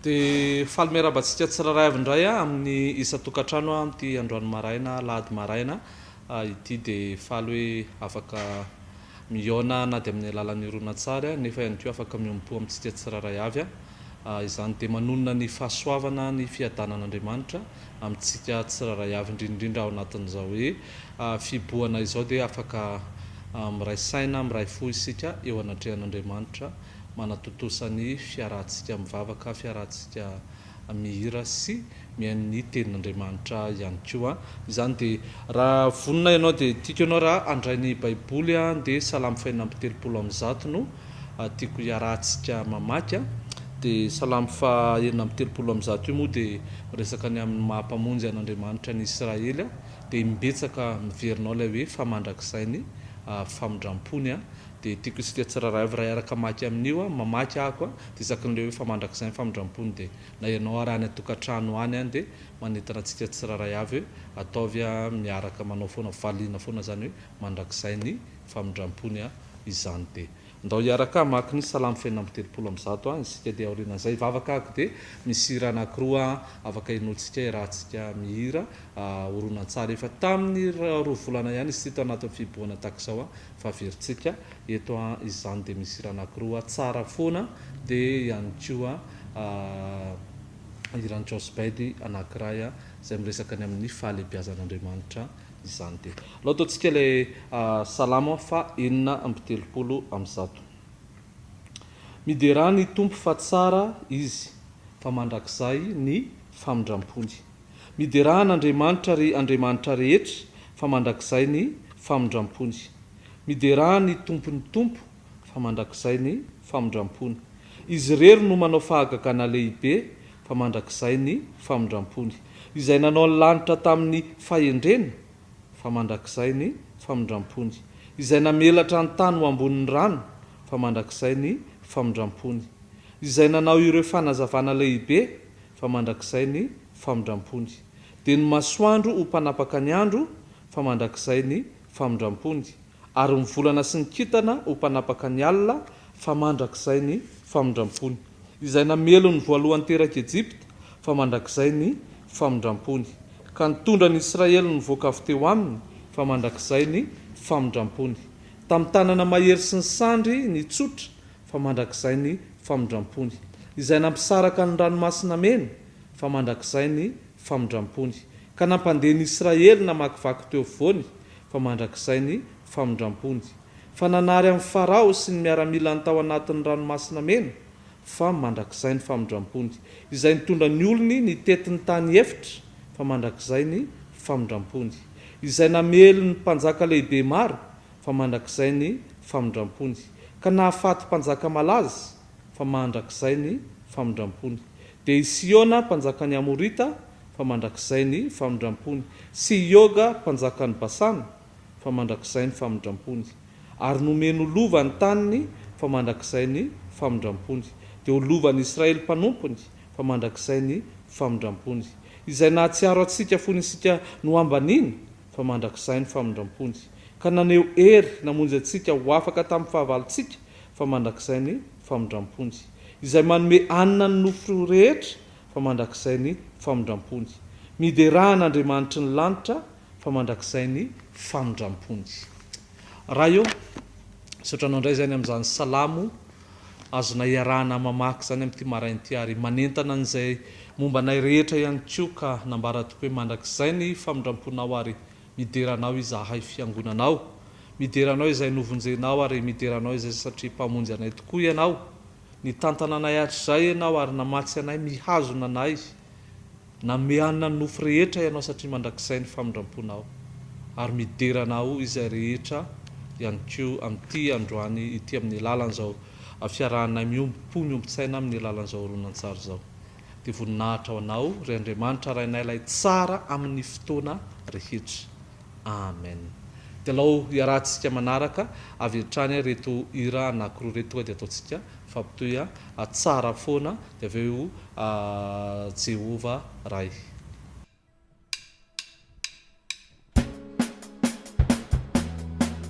Dia faly miarahaba antsika tsirairay avy indray amin'ny isan-tokantrano amin'ity androany maraina, alahady maraina, ity. Dia faly hoe afaka mihaona na dia amin'ny alalan'ny horonantsary nefa ihany koa afaka miombom-po amintsika tsirairay avy. Izany dia manonona ny fahasoavana, ny fiadanan'Andriamanitra amintsika tsirairay avy, indrindra indrindra ao anatin'izao hoe fihibohana izao dia afaka miray saina, miray fo isika eo anatrehan'Andriamanitra. manatontosa ny fiarahantsika mivavaka, fiarahantsika mihira sy mihaino ny Tenin'Andriamanitra ihany koa. Izany dia raha vonona ianao dia tiako ianao raha handray ny Baiboly dia Salamo fahefatra amby telopolo amin'ny zato no tiako hiarahantsika mamaky. Dia Salamo fahenina amby telopolo amin'ny zato io moa dia miresaka ny amin'ny maha Mpamonjy an'Andriamanitra ny Israely dia imbetsaka miverina ao ilay hoe fa mandrakizay ny famindram-pony. Dia tiako isika tsirairay avy raeraka hamaky amin'io an, mamaky ahako an, dia isaky ny le hoe fa mandrakizay ny famindram-pony dia na ianao ary any an-tokantrano any an dia manentana antsika tsirairay avy hoe ataovy an miaraka manao foana valiana foana izany hoe mandrakizay ny famindram-pony an, izany dia ndao hiaraka hamaky ny salamo fenina amby telopolo amby zato an isika dia aorianan'izay hivavaka ahako dia misy hira anakiroa an afaka henointsika iarahantsika mihira an horonantsary efa tamin'ny roa volana ihany izy ity tao anatin'ny fihibohana tahaka izao an fa averintsika eto a izany dia misy hira anakiroa tsara foana dia ihany koa hiran'i Joss Bedy anakiray a izay miresaka ny amin'ny fahalebiazan'Andriamanitra izany dia alao ataontsika ilay salamo fa enina amby telopolo amby zato miderà ny Tompo fa tsara Izy fa mandrakizay ny famindrampony. Miderà an'Andriamanitra ry Andriamanitra rehetra fa mandrakizay ny famindram-pony. Miderà ny Tompon'ny Tompo fa mandrakizay ny famindram-pony. Izy irery no manao fahagagana lehibe fa mandrakizay ny famindram-pony. Izay nanao ny lanitra tamin'ny fahendreny fa mandrakizay ny famindram-pony. Izay namelatra ny tany ho ambonin'ny rano fa mandrakizay ny famindram-pony. Izay nanao ireo fanazavana lehibe fa mandrakizay ny famindrampony. Dia ny masoandro ho mpanapaka ny andro, fa mandrakizay ny famindrampony, ary ny volana sy ny kintana ho mpanapaka ny alina, fa mandrakizay ny famindrampony. Izay namely ny voalohany terak'i Ejipta, fa mandrakizay ny famindrampony, ka nitondra an'i Israely nivoaka avy teo aminy, fa mandrakizay ny famindrampony. Tamin'ny tanana mahery sy ny sandry nitsotra, fa mandrakizay ny famindram-pony. Izay nampisaraka ny Ranomasina Mena, fa mandrakizay ny famindram-pony. Ka nampandeha ny Israely namakivaky teo afovoany, fa mandrakizay ny famindram-pony. Fa nanary an'i Farao sy ny miaramilany tao anatin'ny Ranomasina Mena, fa mandrakizay ny famindram-pony. Izay nitondra ny olony nitety ny tany efitra, fa mandrakizay ny famindram-pony. Izay namely ny mpanjaka lehibe maro, fa mandrakizay ny famindrampony, ka nahafaty mpanjaka malaza, fa mandrakizay ny famindrampony. Dia i Sihona mpanjakan'ny Amorita, fa mandrakizay ny famindrampony, sy i Oga mpanjakan'i Basana, fa mandrakizay ny famindrampony. Ary nomeny ho lova ny taniny, fa mandrakizay ny famindrampony, dia ho lovan'i Israely mpanompony, fa mandrakizay ny famindrampony, izay nahatsiaro antsika fony isika nohambaniana, fa mandrakizay ny famindram-pony, ka naneho hery namonjy antsika ho afaka tamin'ny fahavalontsika, fa mandrakizay ny famindram-pony. Izay manome hanina ny nofo rehetra, fa mandrakizay ny famindram-pony. Miderà an'Andriamanitry ny lanitra, fa mandrakizay ny famindram-pony. Ray ô, misaotra Anao indray izay ny amin'izany salamo Azonay iarahana mamaky izany amin'ity maraina ity ary manentana an'izay momba anay rehetra ihany koa ka nambara tokoa hoe mandrakizay ny famindramponao ary midera anao izahay fiangonanao midera anao izay novonjenao ary midera anao izay satria mpamonjy anay tokoa ianao nitantana anay hatrizay ianao ary namatsy anay mihazona anay Nanome hanina ny nofo rehetra Ianao satria mandrakizay ny famindram-ponao, ary midera anao izay rehetra ihany koa amin'ity androany ity amin'ny alalan'izao fiarahanay miombom-po miombon-tsaina amin'ny alalan'izao horonantsary izao. Dia voninahitra ho Anao, ry Andriamanitra Rainay Ilay Tsara amin'ny fotoana rehetra. Amen! Dialao hiarahantsika manaraka avy hatrany reto hira anakiroa reto tonga dia ataontsika fampitohy a! Tsara foana dia avy eo Jehovah Ray.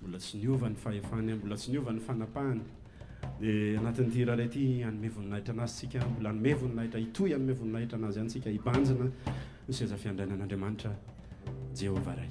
Mbola tsy niova ny fahefany, mbola tsy niova ny fanapahany. Dia anatin'ity hira iray ity hanome voninahitra anazy tsika, mbola hanome voninahitra, hitohy hanome voninahitra anazy ihany tsika, hibanjina ny seza fiandrainan'Andriamanitra Jehovah Ray.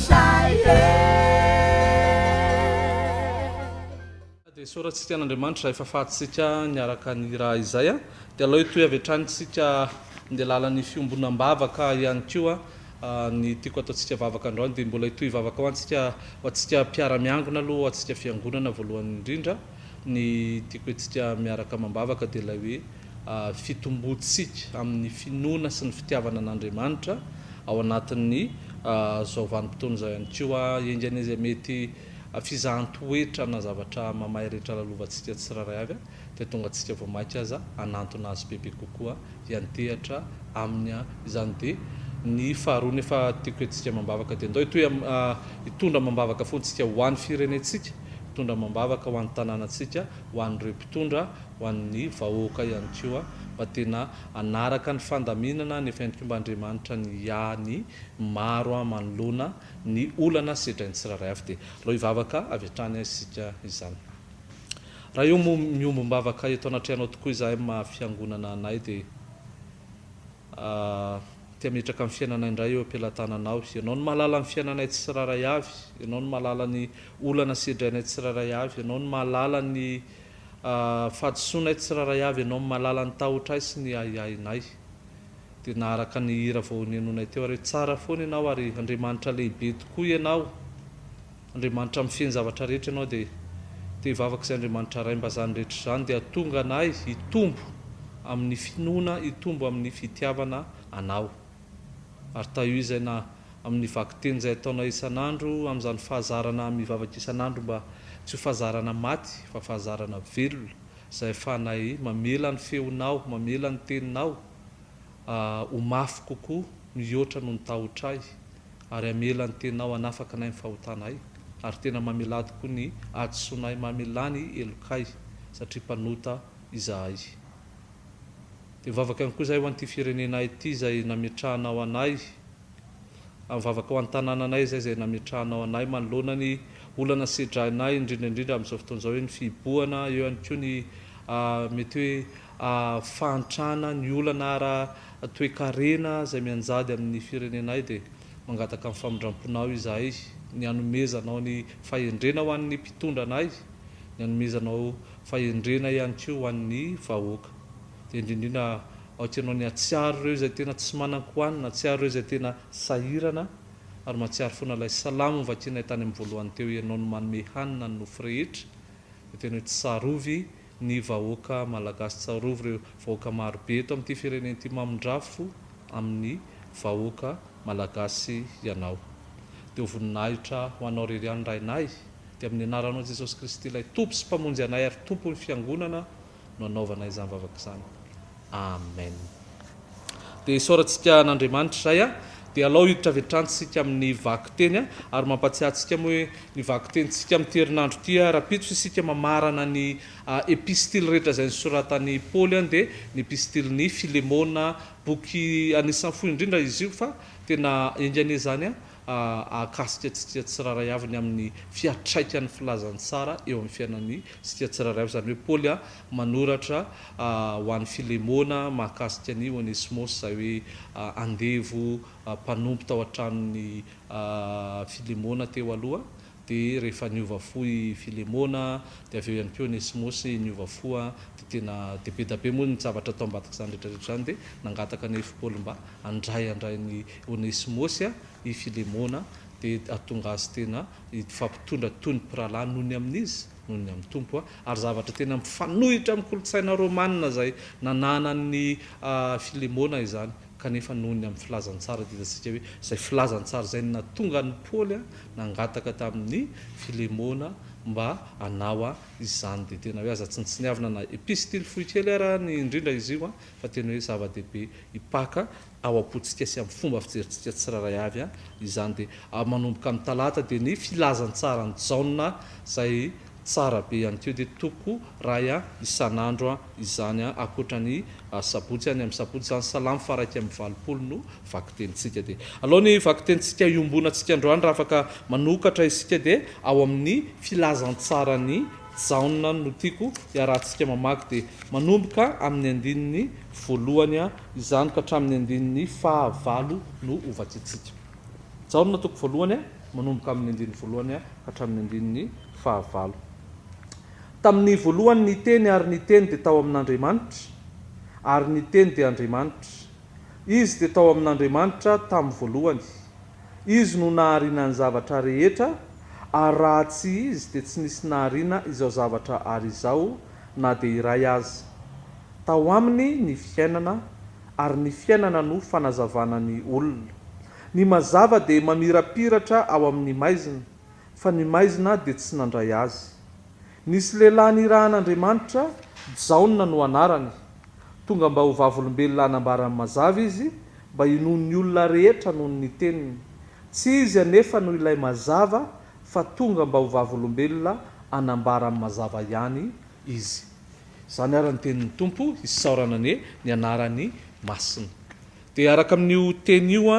Dia soratsika an' Andriamanitra izay fahafahantsika niaraka nihira izay. Dia aleo hitohy avy hatrany isika handeha lalan'ny fiombonam-bavaka ihany koa. Ny tiako hataontsika vavaka androany dia mbola hitohy vavaka ho antsika, ho antsika mpiara-miangona aloha, ho antsika fiangonana voalohany indrindra. Ny tiako hetsika miaraka amam-bavaka dia ilay hoe fitomboantsika amin'ny finoana sy ny fitiavana an'Andriamanitra ao anatin'ny izao vanim-potoana izao ihany koa. Enga anie izay mety fizahan-toetra na zavatra mamay rehetra lalovantsika tsirairay avy dia tonga antsika vao mainka aza hanantona Azy bebe kokoa hiantehatra Aminy. Izany dia ny faharoa. Nefa tiako hetsika amam-bavaka dia ndao hitohy hitondra amam-bavaka fo ntsika ho an'ny firenentsika. Mitondra amam-bavaka ho an'ny tanànantsika, ho an'ireo mpitondra, ho an'ny vahoaka ihany koa mba tena hanaraka ny fandaminana any efa entim-ba Andriamanitra ny hiahy ny maro manoloana ny olana sedrain'ny tsirairay avy. Dia alao hivavaka avy hatrany aho isika izany. Ray o, miombom-bavaka eto anatrehanao tokoa izahay maha fiangonana anay dia. Aho te hametraka ny fiainanay indray eo am-pelatananao. Ianao no mahalala ny fiainanay tsirairay avy. Ianao no mahalala ny olana sedrainay tsirairay avy. Ianao no mahalala ny fahadisoanay tsirairay avy. Ianao no mahalala ny tahotray sy ny ahiahinay. Dia naharaka ny hira vao nihenoinay teo ary hoe, Tsara foana Ianao ary Andriamanitra lehibe tokoa Ianao. Andriamanitra mifehy ny zavatra rehetra ianao dia te hivavaka izay Andriamanitra Ray mba izany rehetra izany dia hatonga anay hitombo amin'ny finoana hitombo amin'ny fitiavana anao ary tahio izay na amin'ny vakiteny izay ataonay isan'andro amin'izany fahazarana mivavaka isan'andro mba tsy ho fahazarana maty fa fahazarana velona izay ahafahanay mamela ny feonao mamela ny teninao ho mafy kokoa mihoatra noho ny tahotra ahy, ary hamela ny Tenao hanafaka anay amin'ny fahotana ay, ary tena mamelà tokoa ny hadisoanay mamelà ny helokay, satria mpanota izahay. Dia mivavaka ihany koa izahay ho an'ity firenenay ity izay nametrahanao anay, ary mivavaka ho an'ny tanànanay izay izay nametrahanao anay, manoloana ny olana sedrainay, indrindra indrindra amin'izao fotoana izao, eo ny fihibohana, eo ihany koa ny mety hoe fahantrana, ny olana ara toekarena izay mianjady amin'ny firenenay dia mangataka ny famindramponao izahay, ny hanomezanao ny fahendrena ho an'ny mpitondra anay, ny hanomezanao fahendrena ihany koa ho an'ny vahoaka. Dia indrindrindra aoka ianao ny hatsiaro ireo izay tena tsy manan-kohanina, hatsiaro ireo izay tena sahirana, ary mahatsiaro foana ilay salamo novakinay tany amin'ny voalohany teo, Ianao no manome hanina ny nofo rehetra, dia tena hoe tsarovy ny vahoaka malagasy tsarovy reo vahoaka maro be eto amty firenena ty mamindrafo aminy vahoaka malagasy ianao de ho voninahitra ho anao rery ihany rainay de aminy anaranao jesosy kristy ilay tompo sy mpamonjy anay ary tompony fiangonana no anaovanay izany vavaka izany Amen. Dia isaorantsika an'Andriamanitra izay a. Dia alao hiditra avy hatrany isika amin'ny vakiteny a. Ary mampatsiahy antsika moa hoe ny vakitentsika amin'ity herinandro ity a, rahampitso isika mamarana ny epistily rehetra izay nosoratan'i Paoly a, dia ny epistilin'i Filemona, boky anisan'ny fohy indrindra izy io fa tena enga anie izany a, hahakasika antsika tsirairay avy ny amin'ny fiantraikan'ny filazantsara eo amin'ny fiainantsika tsirairay avy. Izany hoe Paoly manoratra ho an'i Filemona mahakasika an'i Onesmosy izay hoe andevo mpanompo tao an-tranon'i Filemona teo aloha. Dia rehefa niova fo i Filemona, dia avy eo ihany koa Onesimosy niova fo, dia tena dia be dia be moa ny zavatra tao ambadik'izany rehetra rehetra izany, dia nangataka an'i Paoly mba handray handrain'i Onesimosy i Filemona, dia hahatonga azy tena hifampitondra toy ny mpirahalahy noho ny amin'izy, noho ny amin'ny Tompo, ary zavatra tena mifanohitra amin'ny kolontsaina romanina izay nananan'i Filemona izany. kanefa noho ny amin'ny filazantsara dia hitantsika hoe izay filazantsara izay no nahatonga an'i Paoly nangataka tamin'i Filemona mba hanao izany, dia tena hoe aza tsinontsiniavina na epistily fohy kely ara ny indrindra izy io fa tena hoe zava-dehibe hipaka ao am-pontsika sy amin'ny fomba fijerintsika tsirairay avy izany, dia manomboka amin'ny talata dia ny filazantsaran'i Jaona izay Tsara be ihany koa dia toko ray a isan'andro a izany a akoatra ny sabotsy a ny amin'ny sabotsy izany salamo faha iraika amby valopolo no vakitentsika dia alao ny vakitentsika iombonantsika androany raha afaka manokatra isika dia ao amin'ny filazantsaran'i Jaona no tiako hiarahantsika mamaky dia manomboka amin'ny andininy voalohany a izany ka hatramin'ny andininy faha valo no ho vakintsika Jaona toko voalohany a manomboka amin' ny andininy voalohany hatramin' ny andininy fahavalo. Tamin' ny voalohany ny Teny ary ny Teny dia tao amin' Andriamanitra ary ny Teny dia Andriamanitra. Izy dia tao amin' Andriamanitra tamin' voalohany. Izy no nahariana ny zavatra rehetra ary raha tsy Izy dia tsy nisy nahariana izao zavatra ary izao na dia iray aza. Tao Aminy ny fiainana ary ny fiainana no fanazavana ny olona. Ny mazava dia mamirapiratra ao amin'ny maizina, fa ny maizina dia tsy nandray azy. Nisy lehilahy nirahan'Andriamanitra, Jaona no anarany. Tonga mba ho vavolombelona hanambara ny mazava izy, mba hinoan'ny olona rehetra noho ny teniny. Tsy izy anefa no ilay mazava, fa tonga mba ho vavolombelona hanambara ny mazava ihany izy. Izany ary ny tenin'ny Tompo, isaorana anie ny anarany masina. Dia hiaraka amin'io teny io,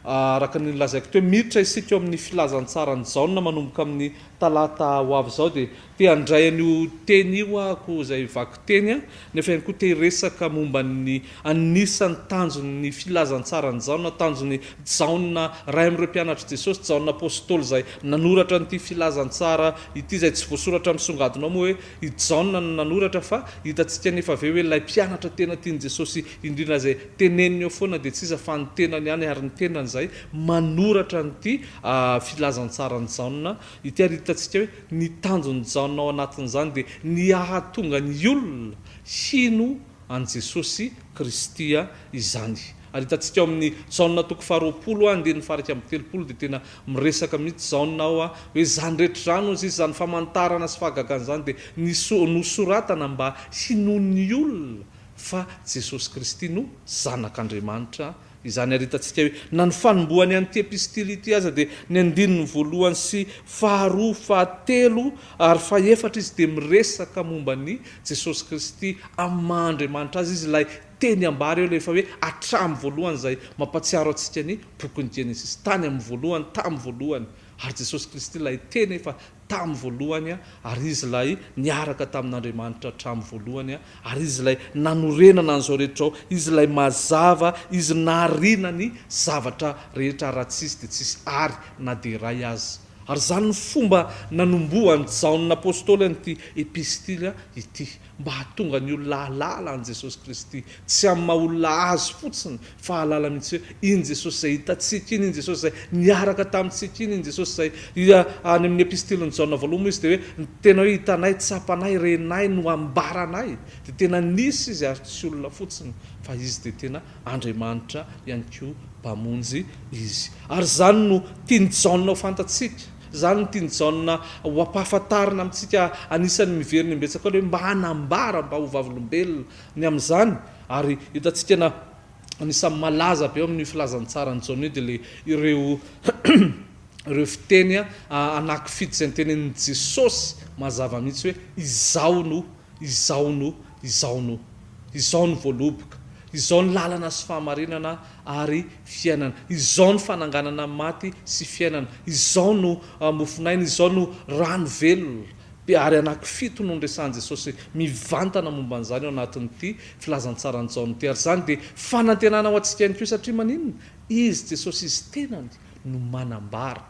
araka ny nolazaiko teo, miditra isika eo amin'ny filazantsaran'i Jaona manomboka amin'ny talata ho avy izao. Dia te handray an'io teny io ahako izay vakiteny, nefa ihany koa te hiresaka momba ny anisan'ny tanjon'ny filazantsaran'i Jaona, tanjon'i Jaona iray amin'ireo mpianatr'i Jesosy, Jaona Apostoly izay nanoratra an'ity filazantsara ity, izay tsy voasoratra misongadina ao moa hoe i Jaona no nanoratra, fa hitantsika anefa avy eo hoe ilay mpianatra tena tian'i Jesosy indrindra izay teneniny eo foana dia tsy iza fa ny tenany ihany ary ny tenany izay manoratra an'ity filazantsaran'i Jaona ity ary hitantsika hoe ny tanjon'i Jaona ao anatin'izany dia ny hahatonga ny olona hino an'i Jesosy Kristy izany ary hitantsika ao amin'ny Jaona toko faharoapolo andininy faha iraika amby telopolo dia tena miresaka mihitsy Jaona ao hoe izany rehetra izany hozy izy izany famantarana sy fahagagana izany dia nosoratana mba hinoan'ny olona fa Jesosy Kristy no Zanak'Andriamanitra izany. Ary hitantsika hoe na ny fanombohany an'ity epistily ity aza dia ny andininy voalohany sy faharoa, fahatelo ary fahefatra izy dia miresaka momba an'i Jesosy Kristy amin'ny maha Andriamanitra azy izy, ilay teny ambara eo ilay efa hoe hatramin'ny voalohany izay mampatsiaro antsika ny bokin'i Genesisy, tany amin'ny voalohany, tamin'ny voalohany, ary Jesosy Kristy ilay teny efa tamin'ny voalohany, ary izy ilay niaraka tamin'Andriamanitra hatramin'ny voalohany, ary izy ilay nanorenana an'izao rehetra izao, izy ilay mazava, izy nahariana ny zavatra rehetra, ary raha tsy izy dia tsy hisy àry na dia iray aza. Ary izany no fomba nanombohan'i Jaona Apostoly an'ity Epistily ity. mba hahatonga ny olona hahalala an'i Jesosy Kristy, tsy amin'ny maha olona Azy fotsiny, fa hahalala mihitsy hoe iny Jesosy izay hitantsika iny, iny Jesosy izay niaraka tamintsika iny, iny Jesosy izay, dia any amin'ny Epistilin'i Jaona voalohany moa Izy dia hoe, ny tena hoe hitanay, tsapanay, renay no ambaranay, dia tena nisy Izy ary tsy olona fotsiny, fa Izy dia tena Andriamanitra ihany koa Mpamonjy Izy. Ary izany no tian'i Jaona ho fantatsika. Izany no tian'i Jaona ho ampahafantarina amintsika anisan'ny miverina imbetsaka aloha hoe mba hanambara mba ho vavolombelona ny amin'izany ary hitantsika na anisan'ny malaza be eo amin'io filazantsaran'i Jaona io dia ilay ireo ireo fiteny anakifidy izay notenenin'i Jesosy mazava mihitsy hoe izaho no izaho no Izao no. Izao no voaloboka. Izao ny lalana sy fahamarinana ary fiainana. Izao ny fananganana ny maty sy fiainana. Izao no mofon'aina. Izao no rano velona. Dia ary anakifito no niresahan'i Jesosy mivantana momba an'izany ao anatin'ity filazantsaran'i Jaona ity. Ary izany dia fanantenana ho antsika ihany koa. Satria maninona? Izy, Jesosy Izy tenany no manambara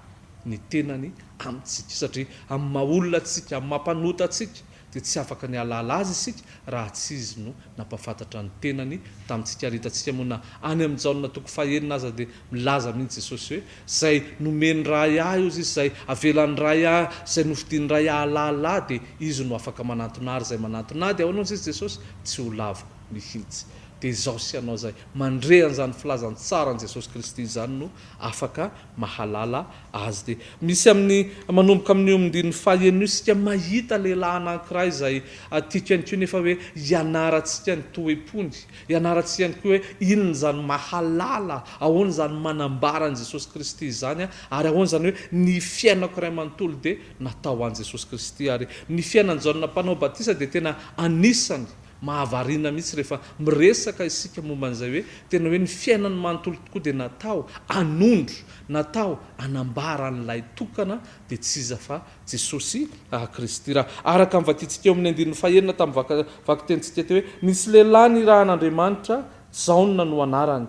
ny tenany amintsika. Satria amin'ny maha-olona antsika, amin'ny maha-mpanota antsika, dia tsy afaka ny hahalala Azy isika raha tsy Izy no nampahafantatra ny Tenany tamintsika. Ary hitantsika moa na any amin'ny Jaona toko fahenina aza dia milaza mihitsy Jesosy hoe, Izay nomen'ny Ray Ahy, hozy Izy, izay avelan'ny Ray Ahy, izay nofidin'ny Ray hahalala Ahy, dia Izy no afaka manantona Ahy, ary izay manantona Ahy, dia ahoana hozy Izy, Jesosy, tsy ho laviko mihitsy. Dia izaho sy ianao izay mandre an'izany filazantsara an'i Jesosy Kristy izany no afaka mahalala azy dia misy amin'ny manomboka amin'ny omdin'ny faha enina io isika mahita lehilahy anankiray izay tiako ihany koa nefa hoe ianarantsika ny toe-pony, ianarantsika ihany koa hoe inona izany mahalala, ahoana izany manambara an'i Jesosy Kristy izany ary ahoana izany hoe ny fiainako iray manontolo dia natao ho an'i Jesosy Kristy ary ny fiainan'i Jaona mpanao batisa dia tena anisany Mahavariana mihitsy rehefa miresaka isika momba an'izay hoe tena hoe ny fiainany manontolo tokoa dia natao hanondro, natao hanambara an'ilay tokana dia tsy iza fa Jesosy Kristy. Raha araka ny vakintsika eo amin'ny andininy fahenina tamin'ny vakitentsika teo hoe nisy lehilahy nirahan'Andriamanitra, Jaona no anarany.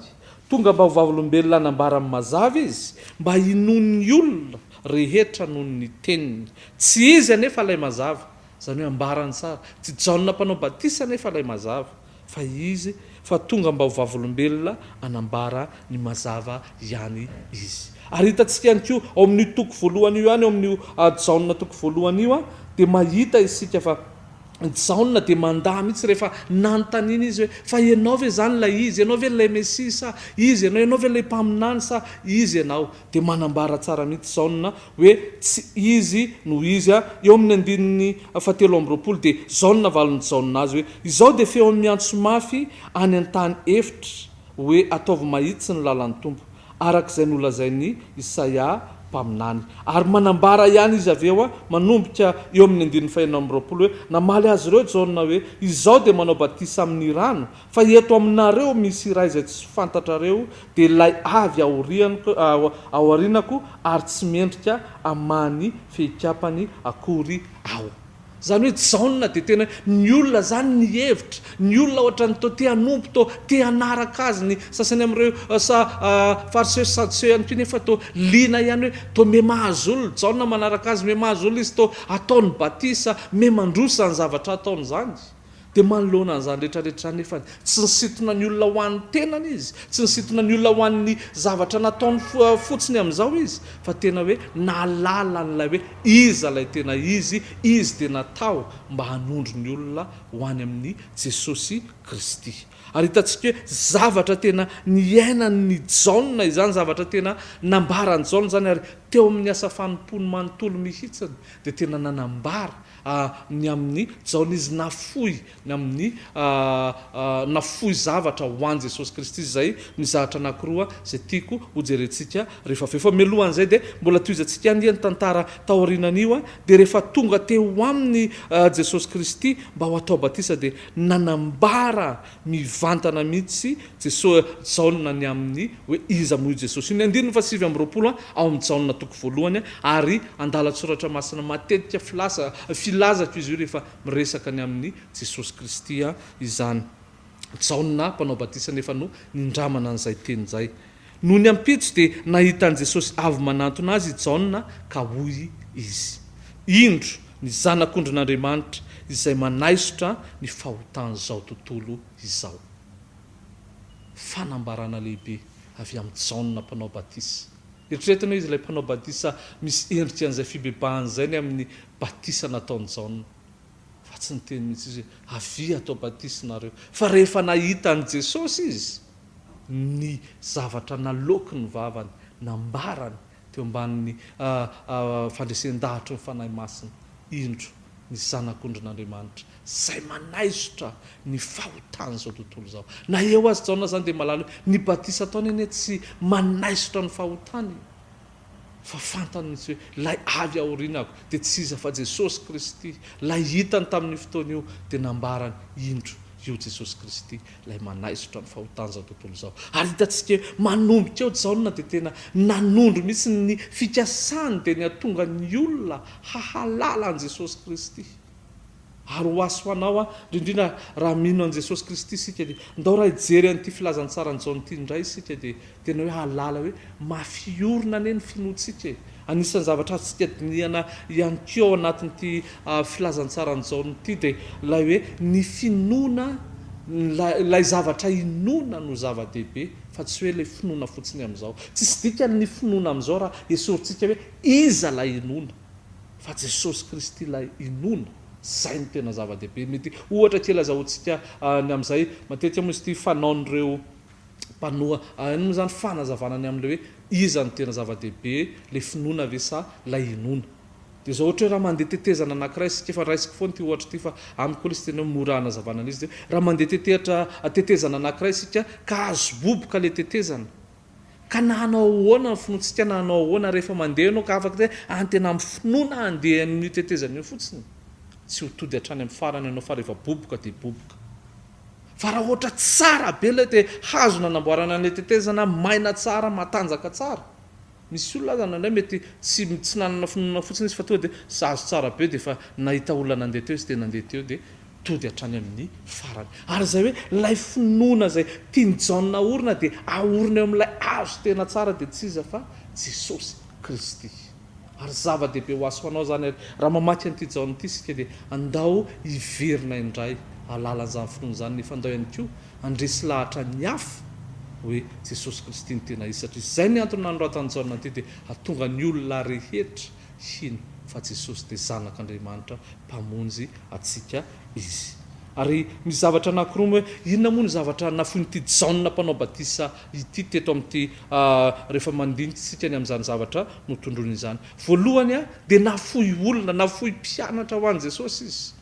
Tonga mba ho vavolombelona hanambara amin'ny mazava izy mba hinoan'ny olona rehetra noho ny teniny. Tsy izy anefa ilay mazava Izany hoe ambara ny sary, tsy Jaona Mpanao Batisa anefa ilay mazava, fa izy, fa tonga mba ho vavolombelona hanambara ny mazava ihany izy. Ary hitantsika ihany koa ao amin'io toko voalohany io ihany, ao amin'io Jaona toko voalohany io, dia mahita isika fa Jaona dia mandà mihitsy rehefa nanontaniana izy hoe, Fa ianao ve izany ilay izy? Ianao ve ilay Mesia sa izy ianao? Ianao ve ilay mpaminany sa izy ianao? Dia manambara tsara mihitsy Jaona hoe tsy izy no izy a! eo amin'ny andininy fahatelo amby roapolo dia izao no navalin'i Jaona azy hoe, Izao dia feo miantso mafy any an-tany efitra hoe, Ataovy mahitsy ny lalan'ny Tompo, araka izay nolazain'i Isaia mpaminany. Ary manambara ihany izy avy eo, manomboka eo amin'ny andininy fahenina amby roapolo hoe, Namaly azy ireo Jaona hoe, Izaho dia manao batisa amin'ny rano, Fa eto aminareo misy iray izay tsy fantatrareo, dia ilay avy aorianko, ao aorianako ary tsy mendrika amany fehikapany akory aho. Izany hoe Jaona dia tena hoe ny olona izany nihevitra, ny olona ohatran'ny toa te hanompo, toa te hanaraka azy ny sasany amin'ireo sa Fariseo sy Sadoseo ihany koa nefa toa liana ihany hoe toa miha mahazo olona, Jaona manaraka azy, miha mahazo olona izy, toa ataony batisa, miha mandroso izany zavatra ataony izany. Dia manoloana an'izany rehetra rehetra izany nefa tsy nisintona ny olona ho an'ny tenany izy, tsy nisintona ny olona ho an'ny zavatra nataony fotsiny amin'izao izy, fa tena hoe nahalala an'ilay hoe iza ilay tena izy, izy dia natao mba hanondro ny olona ho any amin'i Jesosy Kristy. Ary hitantsika hoe zavatra tena niainan'i Jaona izany, zavatra tena nambaran'i Jaona izany, ary teo amin'ny asa fanompoany manontolo mihitsiny dia tena nanambara ny amin'ny Jaona izy nafoy, ny amin'ny nafoy zavatra ho an'i Jesosy Kristy izay nizahatra anankiroa izay tiako ho jerentsika rehefa avy eo. Fa mialohan'izay dia mbola tohizantsika anie ny tantara taorianan'io a, dia rehefa tonga teo aminy Jesosy Kristy mba ho atao batisa dia nanambara Mivantana mihitsy Jesoa Jaona ny amin'ny hoe iza moa i Jesosy io. Ny andininy fahasivy amby roapolo ao amin'ny Jaona toko voalohany ary andalan-tsoratra masina matetika filaza filazako izy io rehefa miresaka ny amin'ny Jesosy Kristy izany Jaona mpanao batisa nefa no nindramana an'izay teny izay. Nony ampitso dia nahita an'i Jesosy avy manantona azy i Jaona ka hoy izy, Indro ny Zanak'ondrin'Andriamanitra izay manaisotra ny fahotan'izao tontolo izao. Fanambarana lehibe avy amin'i Jaona Mpanao Batisa. Eritreretina hoe izy ilay Mpanao Badisa misy endrika an'izay fibebahana izay ny amin'ny batisa nataon'i Jaona. Fa tsy niteny mihitsy izy hoe, Avia atao batisa ianareo. Fa rehefa nahita an'i Jesosy izy, ny zavatra naloaky ny vavany, nambarany teo ambanin'ny fandresen-dahatry ny Fanahy Masina, indro ny Zanak'ondrin'Andriamanitra, izay manaisotra ny fahotan'izao tontolo izao. Na eo aza Jaona izany dia malaly hoe, ny batisa ataony anie tsy manaisotra ny fahotany. fa fantany mihitsy hoe ilay avy aorinako dia tsy iza fa Jesosy Kristy, ilay hitany tamin'io fotoana io dia nambarany, indro, io Jesosy Kristy, ilay manaisotra ny fahotan'izao tontolo izao. Ary hitantsika eo, manomboka eo Jaona dia tena nanondro mihitsy ny fikasany dia ny hatonga ny olona hahalala an'i Jesosy Kristy. Ary ho aso anao aho, indrindra indrindra raha mino an'i Jesosy Kristy isika dia ndao raha hijery an'ity filazantsaran'i Jaona ity indray isika dia tena hoe hahalala hoe mafy orina anie ny finoantsika e! Anisan'ny zavatra azontsika dinihana ihany koa ao anatin'ity filazantsaran'i Jaona ity dia ilay hoe ny finoana, ilay ilay zavatra inoana no zava-dehibe fa tsy hoe ilay finoana fotsiny amin'izao. Tsisy dikany ny finoana amin'izao raha esorintsika hoe iza ilay inoana. fa Jesosy Kristy ilay inoana, izay no tena zava-dehibe. Mety ohatra kely azahoantsika ny amin'izay, matetika moa izy ity fanaon'ireo mpanoa ahy moa izany fanazavana ny amin'ilay hoe iza no tena zava-dehibe, ilay finoana ve sa ilay inoana? Dia izao ohatra hoe raha mandeha tetezana anankiray isika, efa raisiko foana ity ohatra ity fa amiko aloha izy tena hoe mora hanazavana an'izy ity hoe, raha mandeha tetehatra, tetezana anankiray isika ka azo boboka ilay tetezana, Ka na hanao ahoana ny finoantsika na hanao ahoana rehefa mandeha ianao ka afaka hoe any tena amin'ny finoana handeha amin'io tetezana io fotsiny, tsy ho tody hatrany amin'ny farany ianao fa rehefa boboka dia boboka. Fa raha ohatra tsara be ilay te hazo nanamboarana an'ilay tetezana, maina tsara, matanjaka tsara. Misy olona aza nandray mety tsy tsy nanana finoana fotsiny izy fa tonga dia sazy tsara be dia efa nahita olona nandeha teo izy dia nandeha teo dia tody hatrany amin'ny farany. Ary izay hoe ilay finoana izay tian'i Jaona haorina dia aorina eo amin'ilay azo tena tsara dia tsy iza fa Jesosy Kristy. Ary zava-dehibe ho azy ho anao izany ary raha mamaky an'ity Jaona ity isika dia andao hiverina indray alalan'izany finoana izany nefa andao ihany koa handresy lahatra ny hafa hoe Jesosy Kristy no tena izy satria izay ny antony nanoratan'i Jaona an'ity dia hahatonga ny olona rehetra hino fa Jesosy dia Zanak'Andriamanitra Mpamonjy antsika Izy. Ary misy zavatra anankiroa moa. Inona moa no zavatra nafoin'ity Jaona Mpanao Batisa ity teto amin'ity rehefa mandinika isika ny amin'izany zavatra notondroiny izany? Voalohany dia nafoy olona, nafoy mpianatra ho an'i Jesosy Izy.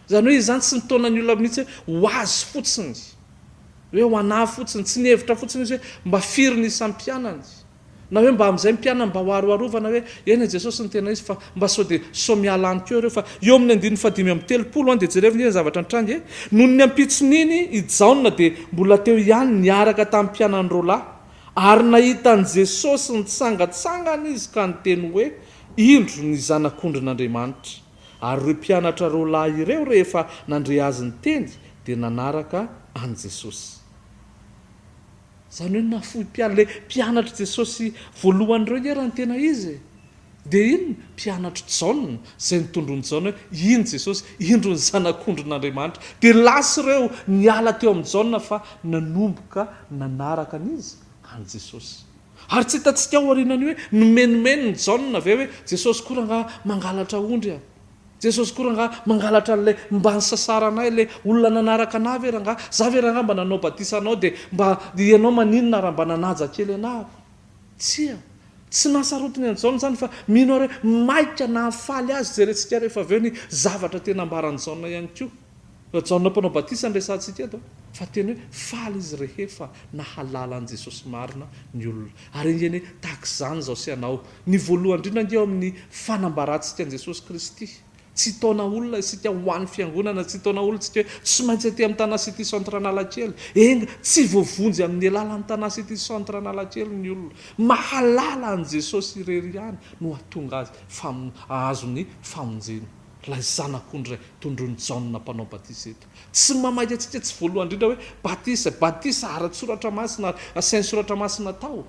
Izany hoe izany tsy nitaona ny olona mihitsy hoe ho Azy fotsiny, hoe ho anà fotsiny. Tsy nihevitra fotsiny Izy hoe mba firy ny isan'ny mpianany. Na hoe mba amin'izay mpianany mba ho aroharovana hoe eny e Jesosy no tena izy fa mba sao dia sao miala any koa ireo fa eo amin'ny andininy fahadimy amby telopolo any dia jereo ve ny zavatra nitranga e. Nony niampitson'iny i Jaona dia mbola teo ihany niaraka tamin'ny mpianany roa lahy ary nahita an'i Jesosy nitsangatsangana izy ka niteny hoe indro ny zanak'ondrin'Andriamanitra. Ary ireo mpianatra roa lahy ireo rehefa nandre azy niteny dia nanaraka an'i Jesosy. Izany hoe nahafoy mpianatra, ilay mpianatr'i Jesosy voalohany ireo nge raha ny tena izy e! Dia inona? Mpianatr'i Jaona, izay nitondroin'i Jaona hoe iny Jesosy, indro ny Zanak'ondrin'Andriamanitra. Dia lasa ireo niala teo amin'i Jaona fa nanomboka nanaraka an'iza? An'i Jesosy. Ary tsy hitantsika ao aorianan'io hoe nomenomenin'i Jaona ve hoe Jesosy koa rangaha mangalatra ondry a! Jesosy koa rangaha mangalatra an'ilay mba nisasaranay ilay olona nanaraka anah ve rangaha? Za ve rangaha mba nanao batisa anao dia mba ianao maninona raha mba nanaja kely anah aho? Tsia. Tsy nasarotiny an'i Jaona izany fa mino ary hoe maika nahafaly azy jerentsika rehefa avy eo ny zavatra tena ambaran'i Jaona ihany koa. Raha Jaona Mpanao Batisa no resahantsika eto, fa teny hoe faly izy rehefa nahalala an'i Jesosy marina ny olona. Ary ange anie tahaka izany izao sy ianao. Ny voalohany indrindra ange ao amin'ny fanambarantsika an'i Jesosy Kristy. Tsy hitaona olona isika ho an'ny Fiangonana, tsy hitaona olona isika hoe tsy maintsy aty amin'ny Tanà City Centre Analakely. Enga, tsy voavonjy amin'ny alalan'ny Tanà City Centre Analakely ny olona. Mahalala an'i Jesosy irery ihany no hahatonga azy hahazo ny famonjena. Ilay Zanak'ondry Ray tondroin'i Jaona Mpanao Batisa eto, tsy mamaly antsika tsy voalohany indrindra hoe batisa, batisa ara-tSoratra Masina ary asian'ny Soratra Masina tao,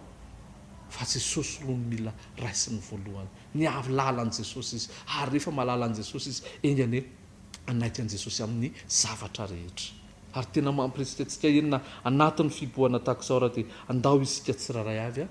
fa Jesosy aloha no mila raisiny voalohany. Nialala an'i Jesosy izy, ary rehefa mahalala an'i Jesosy izy, enga anie hanaiky an'i Jesosy amin'ny zavatra rehetra. Ary tena mampirisika antsika enina anatin'ny fibohana tahaka izao raha dia handao isika tsirairay avy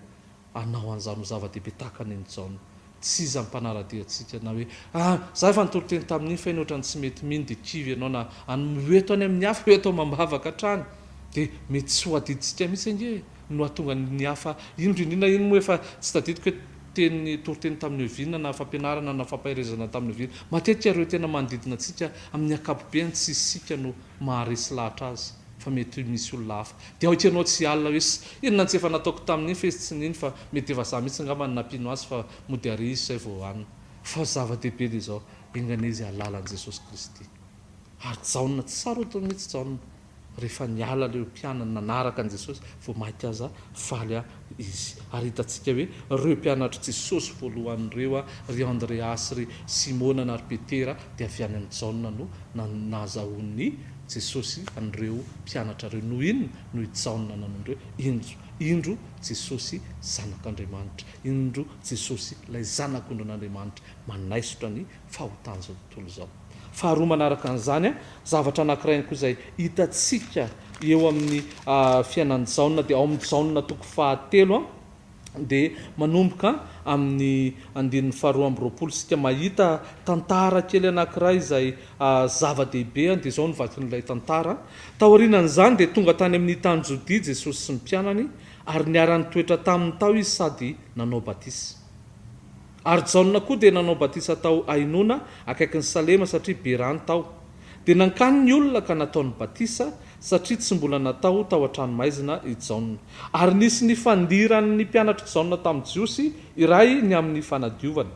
Anao an'izany ho zava-dehibe tahaka ny an'i Jaona. Tsy iza ny mpanara-dia antsika na hoe, Ah! Za efa nitoriteny tamin'iny fa iny ohatran'ny tsy mety mino dia kivy ianao na an ho eto any amin'ny hafa hoe atao amam-bavaka hatrany dia mety tsy ho adidintsika mihitsy ange e! no hahatonga ny hafa indro indrindra iny moa efa tsy tadidiko hoe teny toriteny tamin'ny oviana na fampianarana na fampaherezana tamin'ny oviana matetika ireo tena manodidina antsika amin'ny ankapobeany tsy isika no maharesy lahatra azy fa mety misy olona hafa dia aoka ianao tsy hialona hoe sy inona tsy efa nataoko tamin'iny fa izy tsy nino fa mety efa za mihitsy ngamba no nampino azy fa mody ary izy zay vao hanina fa zava-dehibe dia izao enganie izy hahalala an'i Jesosy Kristy ary Jaona tsy sarotiny mihitsy Jaona rehefa niala leo mpianany nanaraka an'i Jesosy vao maika aza faly izy. Ary hitantsika hoe ireo mpianatr'i Jesosy voalohany ireo, ry Andreasy, ry Simona na ry Petera, dia avy any amin'i Jaona no nazahoan'i Jesosy an'ireo mpianatra ireo. Noho inona no i Jaona nanao an'ireo? Indro, indro Jesosy Zanak'Andriamanitra! Indro Jesosy ilay Zanak'ondrin'Andriamanitra manaisotra ny. fahotan'izao tontolo izao. Faharoa manaraka an'izany, zavatra anankiray ihany koa izay hitantsika eo amin'ny fiainan'i Jaona dia ao amin'ny Jaona toko fahatelo dia manomboka amin'ny andininy faharoa amby roapolo isika mahita tantara kely anankiray izay zava-dehibe dia izao no vakin'ilay tantara. Taorianan'izany dia tonga tany amin'ny tany Jodia Jesosy sy ny mpianany ary niara-nitoetra taminy tao izy sady nanao batisa. Ary Jaona koa dia nanao batisa tao Ainona, akaikin'i Salema, satria be rano tao. Dia nankany ny olona ka nataony batisa, satria tsy mbola natao tao an-tranomaizina i Jaona. Ary nisy nifandiran'ny mpianatr'i Jaona tamin'ny Jiosy iray ny amin'ny fanadiovana.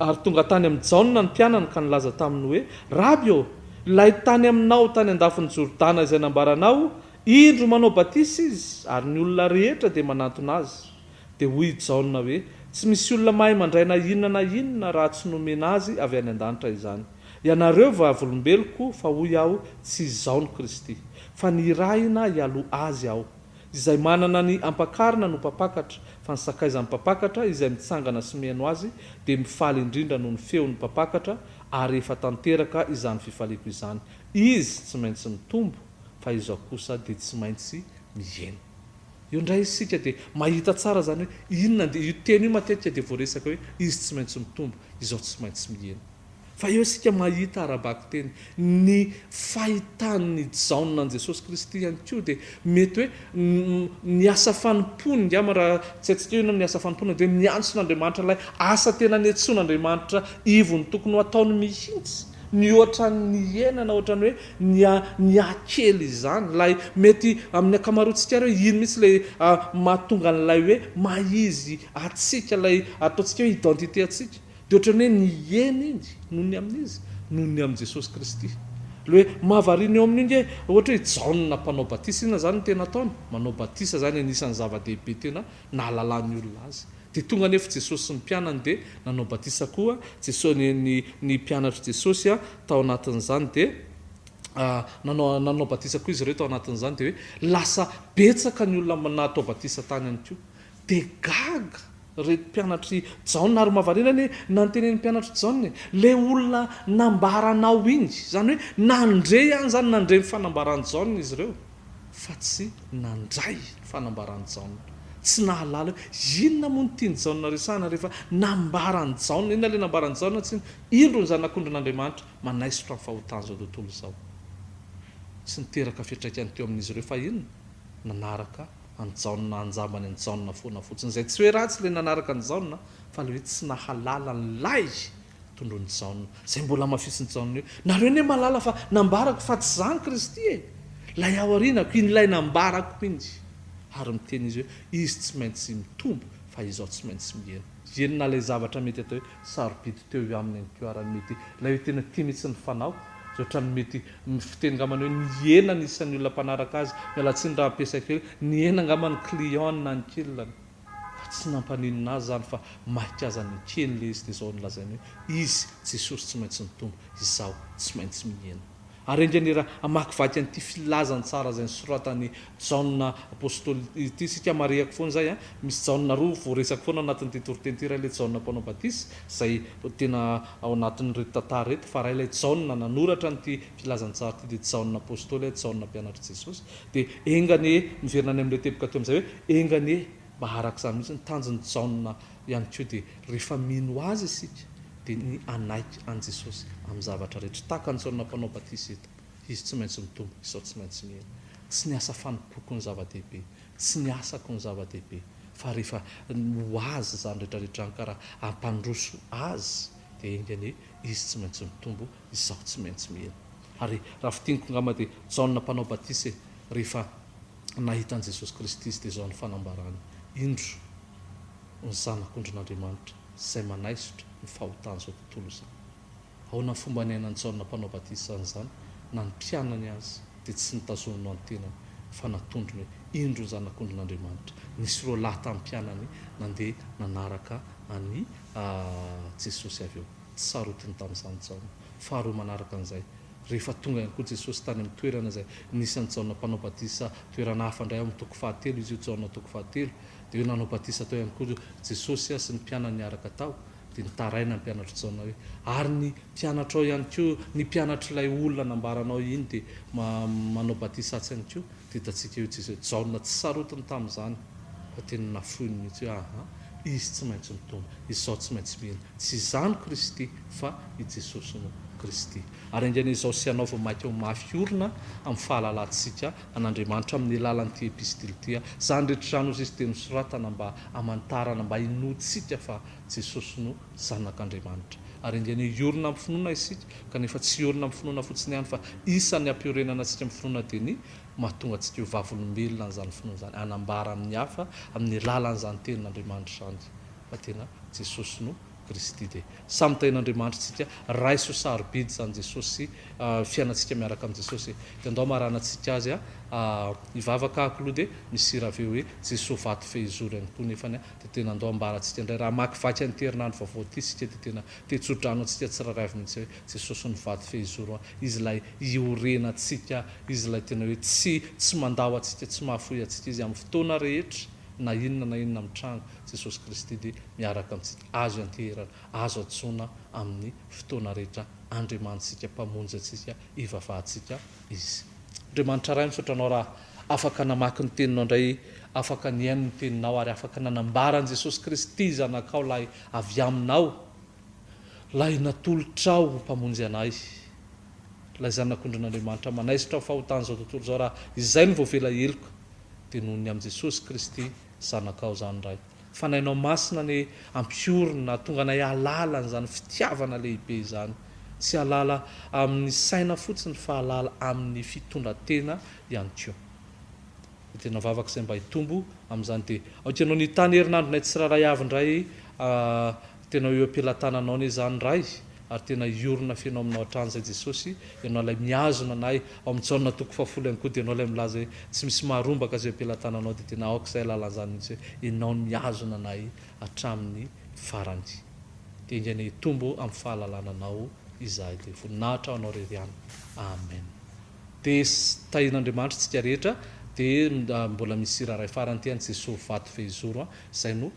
Ary tonga tany amin'i Jaona ny mpianany ka nilaza taminy hoe, Raby ô, ilay tany aminao tany an-dafin'i Jordana izay nambaranao, indro manao batisa izy, ary ny olona rehetra dia manantona azy. Dia hoy i Jaona hoe, Tsy misy olona mahay mandray na inona na inona raha tsy nomena azy avy any an-danitra izany. Ianareo vavolombeloko, fa hoy aho, tsy izaho no Kristy. Fa nirahina hialoha azy aho. Izay manana ny ampakarina no mpampakatra, fa ny sakaizan'ny mpampakatra, izay mitsangana sy mihaino azy, dia mifaly indrindra noho ny feon'ny mpampakatra, ary efa tanteraka izany fifaliako izany. Izy tsy maintsy mitombo, fa izaho kosa dia tsy maintsy mihena. Eo indray isika dia mahita tsara izany hoe inona ny dia io teny io matetika dia voaresaka hoe izy tsy maintsy mitombo, izao tsy maintsy mihena. Fa eo isika mahita ara-bakiteny ny fahitan'i Jaona an'i Jesosy Kristy ihany koa dia mety hoe ny asa fanompoany ngamba raha tsy haintsika hoe inona ny asa fanompoana dia miantso an'Andriamanitra ilay asa tena niantsoan'Andriamanitra ivony tokony ho ataony mihitsy. Mihoatra ny hiainana ohatrany hoe ny niha-kely izany. Ilay mety amin'ny ankamaroantsika ary hoe iny mihitsy ilay mahatonga an'ilay hoe maha izy antsika, ilay ataontsika hoe identité antsika. Dia ohatrany hoe nihena iny noho ny amin'izy, noho ny amin'i Jesosy Kristy. Ilay hoe mahavariana eo amin'io nge, ohatra hoe i Jaona mpanao batisa, inona izany no tena ataony? Manao batisa izany anisan'ny zava-dehibe tena nahalalan'ny olona azy. Dia tonga anefa Jesosy sy ny mpianany dia nanao batisa koa Jesosy, ny, ny, ny mpianatr'i Jesosy a, tao anatin'izany. Dia nanao, nanao batisa koa izy ireo tao anatin'izany. Dia hoe lasa betsaka ny olona natao batisa tany ihany koa. Dia gaga ireto mpianatr'i Jaona ary mahavariana ny nantenenin'ny mpianatr'i Jaona e. Ilay olona nambaranao iny. Izany hoe nandre ihany izany, nandre ny fanambaran'i Jaona izy ireo. fa tsy nandray ny fanambaran'i Jaona. Tsy nahalala hoe inona moa no tian'i Jaona resahana rehefa nambaran'i Jaona. Inona ilay nambaran'i Jaona? Tsy ny, Indro ny Zanak'ondrin'Andriamanitra manaisotra ny fahotan'izao tontolo izao. Tsy niteraka fiantraikany teo amin'izy ireo, fa inona? Nanaraka an'i Jaona, naha-njambany an'i Jaona foana fotsiny. Izay tsy hoe ratsy ilay nanaraka an'i Jaona, fa ilay hoe tsy nahalala an'ilay Tondroin'i Jaona. Izay mbola hamafisin'i Jaona eo. Nareo anie mahalala fa nambarako fa tsy zany Kristy e! Ilay ao aorianako, in'ilay nambarako mihitsy. Ary miteny izy hoe, Izy tsy maintsy mitombo, fa izao tsy maintsy mihena. Eny na ilay zavatra mety atao hoe sarobidy teo io aminy ihany koa ary ny mety ilay hoe tena tia mihitsy ny fanao, izay ohatran'ny mety fiteny angambany hoe nihena ny isan'ny olona mpanaraka azy, miala tsiny raha ampiasaiko hoe nihena angamba ny client-ny na ny kilany. Fa tsy nampaninona azy izany fa maika aza ny ekeny ilay izy dia izao no lazainy hoe, Izy, Jesosy tsy maintsy nitombo, izaho tsy maintsy mihena. Ary enga anie raha hamakivaky an'ity filazany tsara izay nosoratan'i Jaona Apostoly ity isika, marihako foana izay an, misy Jaona roa voaresaka foana ao anatin'ity toriteny ity, iray ilay Jaona Mpanao Batisa izay tena ao anatin'ireto tantara ireto, fa iray ilay Jaona nanoratra an'ity filazany tsara ity dia Jaona Apostoly, Jaona mpianatr'i Jesosy. Dia enga anie, miverina any amin'ilay teboka teo amin'izay hoe, enga anie mba araka izany mihitsy ny tanjon'i Jaona ihany koa dia rehefa mino Azy isika dia ny hanaiky an'i Jesosy amin'ny zavatra rehetra. Tahaka an'i Jaona Mpanao Batisa eto, izy tsy maintsy mitombo, izao tsy maintsy mihena. Tsy ny asa fanompoako no zava-dehibe, tsy ny asako no zava-dehibe, fa rehefa ho Azy izany rehetra rehetra izany ka raha hampandroso Azy dia enga anie Izy tsy maintsy mitombo Izaho tsy maintsy mihena. Ary raha fintiniko ngamba dia Jaona mpanao batisa e, rehefa nahita an'i Jesosy Kristy izy dia izao ny fanambarany, Indro ny Zanak'ondrin'Andriamanitra izay manaisotra ny fahotan'izao tontolo izao. Ahoana ny fomba niainan'i Jaona mpanao batisa an'izany? Na ny mpianany aza dia tsy nitazoniny ho an'ny tenany fa natondrony hoe, Indro ny Zanak'ondrin'Andriamanitra. Nisy roa lahy tamin'ny mpianany nandeha nanaraka an'i Jesosy avy eo. tsy sarotiny tamin'izany Jaona. Faharoa manaraka an'izay, rehefa tonga ihany koa Jesosy tany amin'ny toerana izay nisy an'i Jaona mpanao batisa, toerana hafa indray ao amin'ny toko fahatelo izy io, Jaona toko fahatelo, dia hoe nanao batisa tao ihany koa Jesosy sy ny mpianany niaraka tao. Dia nitaraina ny mpianatr'i Jaona hoe, Ary ny mpianatrao ihany koa, ny mpianatr'ilay olona nambaranao iny dia manao batisa atsy ihany koa. Dia hitantsika eo Jesosy hoe, Jaona tsy sarotiny tamin'izany, fa tena nafoiny mihitsy hoe, Aha, izy tsy maintsy mitondra, izaho tsy maintsy mino. Tsy izaho no Kristy, fa i Jesosy no Kristy. Ary haingana izao sy hanaovy maika ho mafy orina amin'ny fahalalantsika an'Andriamanitra amin'ny alalan'ity epistily ity aho. Izany rehetra izany, hoy izy, dia nosoratana mba hamantarana, mba hinoantsika fa Jesosy no Zanak'Andriamanitra. Ary haingana hiorina amin'ny finoana isika, kanefa tsy hiorina amin'ny finoana fotsiny ihany, fa isan'ny hampiorenana antsika amin'ny finoana dia ny mahatonga antsika ho vavolombelona an'izany finoana izany, hanambara amin'ny hafa amin'ny alalan'izany Tenin'Andriamanitra izany. fa tena Jesosy no Kristy de samy tahin' Andriamanitra tsika raiso sarobidy zany Jesosy sy fiainantsika miaraka am Jesosy e de ndao marana tsika azy a hivavaka ako lo de misy hira aveo hoe Jesosy vato fehizoro ihany koa nefany a de tena ndao ambara tsika ndray raha hamakivaky an ity herinandro vaovao ity sika de tena tetsodrano antsika tsirairay avy mintsy hoe Jesosy no vato fehizoro a izy lay iorena tsika izy lay tena hoe tsy tsy mandao atsika tsy mahafoy atsika izy am fotoana rehetra na inona na inona mitranga Jesosy Kristy dia miaraka amintsika, azo ianteherana, azo antsoina amin'ny fotoana rehetra Andriamanitsika, Mpamonjy antsika, Ivavahantsika Izy. Andriamanitra Ray, misaotra Anao raha afaka namaky ny Teninao indray, afaka nihaino ny Teninao ary afaka nanambara an'i Jesosy Kristy Zanakao lahy avy Aminao, Ilay natolotrao ho Mpamonjy anay, Ilay Zanak'ondrin'Andriamanitra manaisotra ny fahotan'izao tontolo izao raha izay no voavela heloka dia noho ny amin'i Jesosy Kristy, Zanakao izany Ray. Fanahinao Masina anie ampiorina hatonga anay hahalala an'izany fitiavana lehibe izany. Tsy hahalala amin'ny saina fotsiny fa hahalala amin'ny fitondran-tena ihany koa. Dia tena vavaka izay mba hitombo amin'izany dia aoka Ianao ny hitany herinandronay tsirairay avy indray a. Tena eo am-pelatananao anie izany Ray ary tena hiorina feno aminao hatrany izay Jesosy, Ianao ilay mihazona anay, ao amin'ny Jaona toko fahafolo ihany koa dia Ianao ilay milaza hoe tsy misy maharombaka azy eo am-pelatananao dia tena aoka izay alalana izany mihitsy hoe Ianao no mihazona anay hatramin'ny farany. Dia engaina hitombo amin'ny fahalalana Anao izahay dia voninahitra ho Anao irery ihany. Amen. Dia tahian'Andriamanitra isika rehetra dia mbola misy hira iray farany ity an Jesoa vato fehizoro an, izay no.